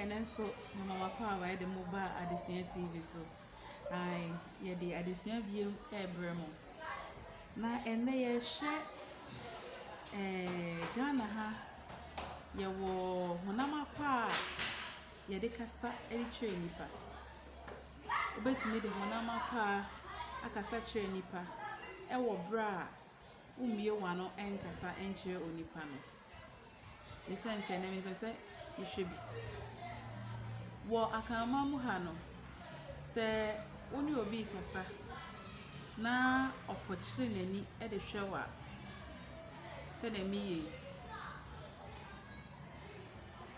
Ɛno nso mema m'akɔ a wɔayɛ de mo ba Adesua TV so. Ae, yɛde adesua bio rebrɛ mo. Na ɛnnɛ yɛrehwɛ ɛɛ Ghana ha, yɛwɔ honam akwa a yɛde kasa de kyerɛ nnipa. Wobɛtumi de honam akwa akasa kyerɛ nnipa wɔ berɛ a wommue w'ano nkasa nkyerɛ onipa no. Esiane na mepɛ sɛ mehwɛ bi. Wɔ Akanman mu ha no, sɛ wo ne obi rekasa na ɔpɔkyere n'ani de hwɛ wo a, sɛdeɛ meyɛ yi,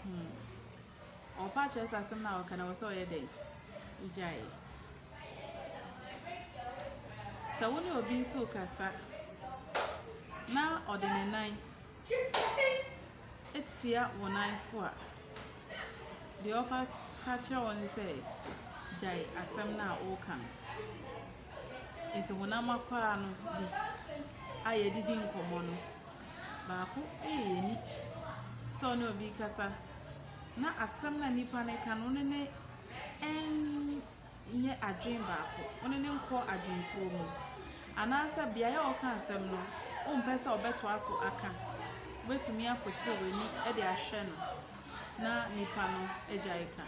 hmm. Ɔmfa nkyerɛ sɛ asɛm no a ɔreka no ɛwɔ sɛ ɔyɛ dɛn? Ogyae. Sɛ wo ne obi nso rekasa na ɔde ne nan atia wo nan so a, deɛ ɔka ka kyerɛ wo ne sɛ gyae asɛm no a ɔreka no. Nti honam akwaa no bi a yɛde di nkɔmmɔ no. Baako eyi n'ani sɛ ɔne obi rekasa, na asɛm no a nipa no reka no, wo ne no nyɛ adwene baako, wo ne no nkɔ adwene kuo mu. Anaasɛ beaeɛ a ɔreka asɛm no, wo mpɛ sɛ ɔbɛtoa so aka. Wo bɛtumi akɔkyere w'ani de ahwɛ no na nipa no agya reka.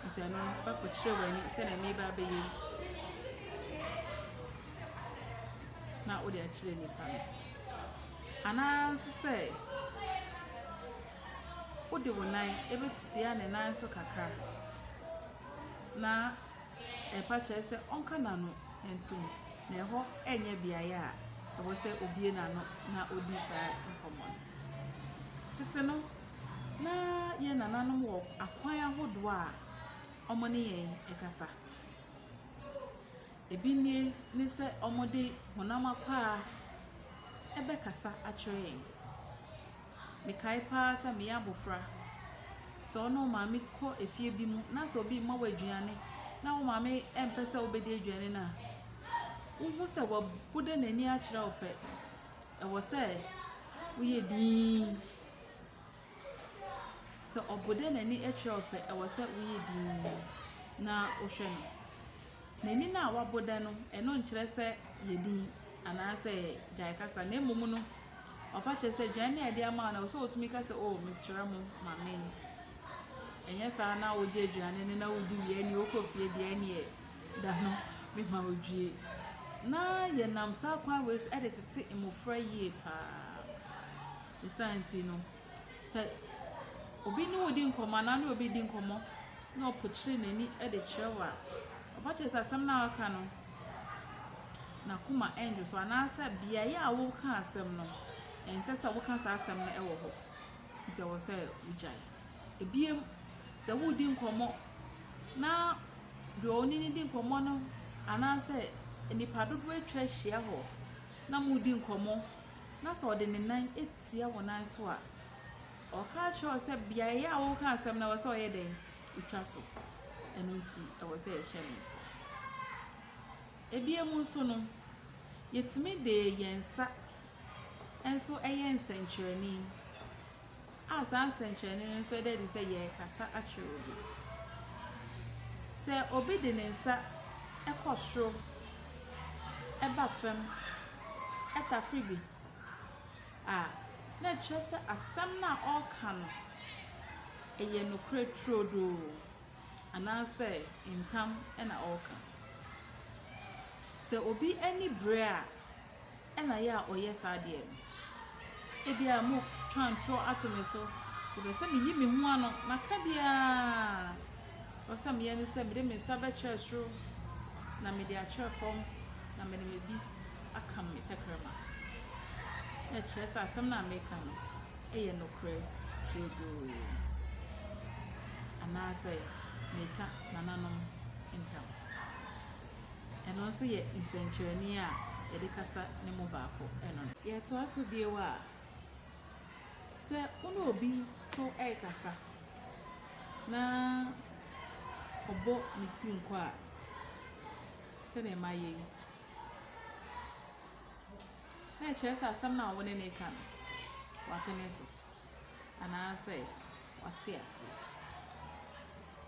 Nti ɛno no, wobɛkɔ kyerɛ w'ani sɛ na ɛmeba bɛyɛ yi. Na wode akyerɛ nipa no. Anaa nso sɛ wode wo nan bɛtia ne nan so kakra na ɛpa kyerɛ sɛ ɔnka n'ano ntom, na ɛhɔ nyɛ beaeɛ a ɛwɔ sɛ ɔbue n'ano na ɔdi saa nkɔmmɔ no. Tete no, na yɛn nananom wɔ akwan ahodoɔ a wɔne yɛn kasa. Ebi nie ne sɛ wɔde honam akwaa ɛbɛkasa akyerɛ yɛn. Mekae pa ara sɛ meyɛ abɔfra, sɛ wo ne wo maame kɔ efie bi mu na sɛ obi rema wo aduane na wo maame mpɛ sɛ wobɛdi aduane no a, wohu sɛ wabu dɛ n'ani akyerɛ wo pɛ, ɛwɔ sɛ woyɛ dinn. Sɛ ɔbo dɛ n'ani kyerɛ wo pɛ, ɛwɔ sɛ woyɛ dinn na wohwɛ no. N'ani no a wabo dɛ no, ɛno nkyerɛ sɛ yɛ dinn anaasɛ gyae kasa, na mmom no, ɔpa kyerɛ sɛ aduan no a ɛde ama wo no, ɛwɔ sɛ wotumi ka sɛ, Oh, mesrɛ mo, ma me. Ɛnyɛ saa na wogye aduane no na wodi wie ɛnneɛ wokɔ fie deɛ ɛnneɛ da no mema wodwie. Na yɛnam saa kwan wei so de tete mmɔfra yie pa ara. Ne saa nti no, sɛ obi ne wo redi nkɔmmɔ anaa wo ne obi redi nkɔmmɔ na ɔpokyere n'ani de kyerɛ wo a, ɔba kyerɛ sɛ asɛm no a ɔreka no, n'akoma nnwo so anaasɛ beaeɛ a woreka asɛm no, ɛnsɛ sɛ woka saa asɛm no wɔ hɔ. Nti ɛwɔ sɛ wogyae. Ebiem, sɛ woredi nkɔmmɔ na deɛ wo ne no di nkɔmmɔ no anaasɛ nnipa dodoɔ atwa ahyia hɔ na moredi nkɔmmɔ na sɛ ɔde ne nan tia wo nan so a, ɔka akyerɛ wo sɛ beaeɛ a woka asɛm no ɛwɔ sɛ ɔyɛ dɛn? Ɔtwa so. Ɛno nti ɛwɔ sɛ yɛhyɛ no nso. Ebia mu nso no, yɛtumi de yɛn nsa nso ɛyɛ nsɛnkyerɛnne. A Saa nsɛnkyerɛnne no nso ɛda adi sɛ yɛrekasa akyerɛ obi. Sɛ obi de ne nsa kɔ soro, ɛba fam, ɛtafere bi a, na ɛkyerɛ sɛ asɛm no a ɔreka no, ɛyɛ nokorɛ turodoo, anaasɛ ntam na ɔreka. Sɛ obi ani bere a. na yɛ a ɔyɛ saa adeɛ no. Ebia moretwa ntorɔ ato me so. Mepɛ sɛ meyi me ho ano. Maka biara. Deɛ ɛsɛ sɛ meyɛ ne sɛ mede me nsa bɛkyerɛ soro, na mede akyerɛ fam, na mede me bi aka me tɛkrɛma. Na ɛkyerɛ sɛ asɛm no a meka no yɛ nokorɛ turodoo. Anaasɛ meka nananom ntam. Ɛno nso yɛ nsɛnkyerɛnne a yɛde kasa no mu baako no. Yɛtoa so bio a, sɛ wo ne obi nso rekasa na ɔbɔ ne ti nkɔ a, sɛdeɛ ɛma yɛ yi, na ɛkyerɛ sɛ asɛm no a wo ne no reka no, wapene so. anaasɛ ɔte aseɛ.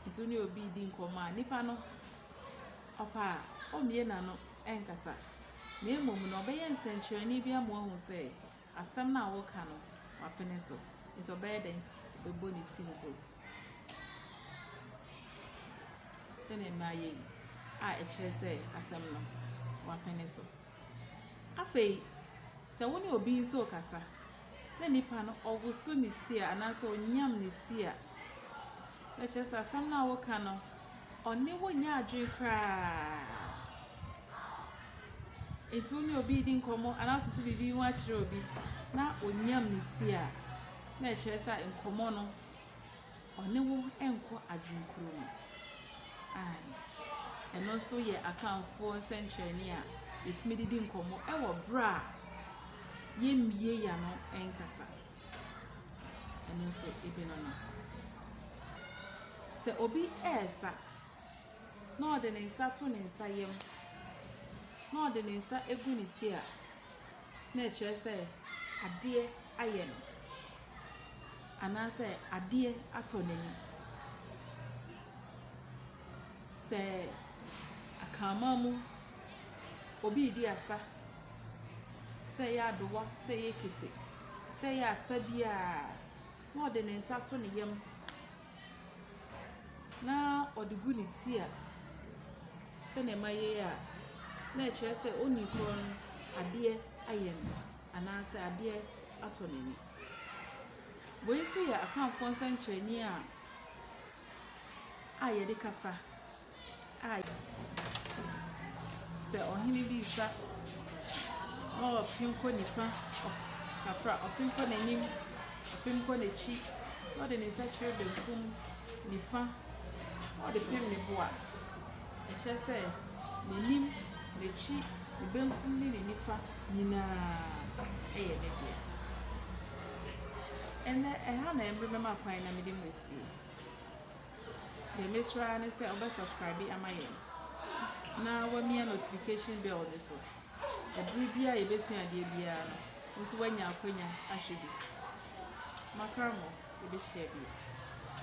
Nti wo ne obi redi nkɔmmɔ a, nipa no, ɔpɛ a, ɔmmue n'ano nkasa. Na mmom no, ɔbɛyɛ nsɛnkyerɛnne bi ama wahu sɛ asɛm no a woreka no, wapene so. Nti ɔbɛyɛ dɛn? Ɔbɛbɔ ne ti nko. Sɛdeɛ mmaa yɛ yi a ɛkyerɛ sɛ asɛm no, wapene so. Afei, sɛ wo ne obi nso rekasa na nipa no ɔwoso ne ti a anaasɛ ɔnyam ne ti a, na kyerɛ sɛ asɛm no a woreka no, ɔne wo nyɛ adwene koraa. Enti wo ne obi redi nkɔmmɔ anaa wosusu biribi ho akyerɛ obi na ɔnyam ne ti a, na ɛkyerɛ sɛ nkɔmmɔ no. Ɔne wo nkɔ adwenkuro mu. Ae. Ɛno nso yɛ Akanfoɔ nsɛnkyerɛnne a yɛtumi de di nkɔmmɔ wɔ berɛ a yɛmmue yɛn ano nkasa. Ɛno nso ebi no no. Sɛ obi resa na ɔde ne nsa to ne nsa yam na ɔde ne nsa gu ne ti a, na ɛkyerɛ sɛ adeɛ ayɛ no. anaasɛ adeɛ atɔ n'ani. Sɛ akanman mu, obi redi asa, sɛ ɛyɛ adowa, sɛ ɛyɛ ekete, sɛ ɛyɛ asa biara a, na ɔde ne nsa to ne yam, na ɔde gu ne ti a sɛdeɛ mayɛ yi a, na ɛkyerɛ sɛ onii korɔ no, adeɛ ayɛ no. anaasɛ adeɛ atɔ n'ani. Wei nso yɛ Akanfoɔ nsɛnkyerɛnneɛ a a yɛde kasa a sɛ ɔhene bi resa ɔrepem kɔ nifa kakra, ɔpem kɔ n'anim, ɔpem kɔ n'akyi, na ɔde ne nsa kyerɛ benkum, nifa, na ɔde pem ne bo a, ɛkyerɛ sɛ n'anim, n'akyi, ne benkum ne ne nifa. nyina ara yɛ ne dea. Ndɛ ɛha na mber bɛma kwan na mede mu esie. Deɛ mesrɛ ara ne sɛ ɔbɛ subscribe ama yɛn na wamia notification bell no so. Ɛbere biara a yɛbɛsua adeɛ biara no, wo nso woanya akwanya ahwɛ bi. Makra mo, yɛbɛhyia bio.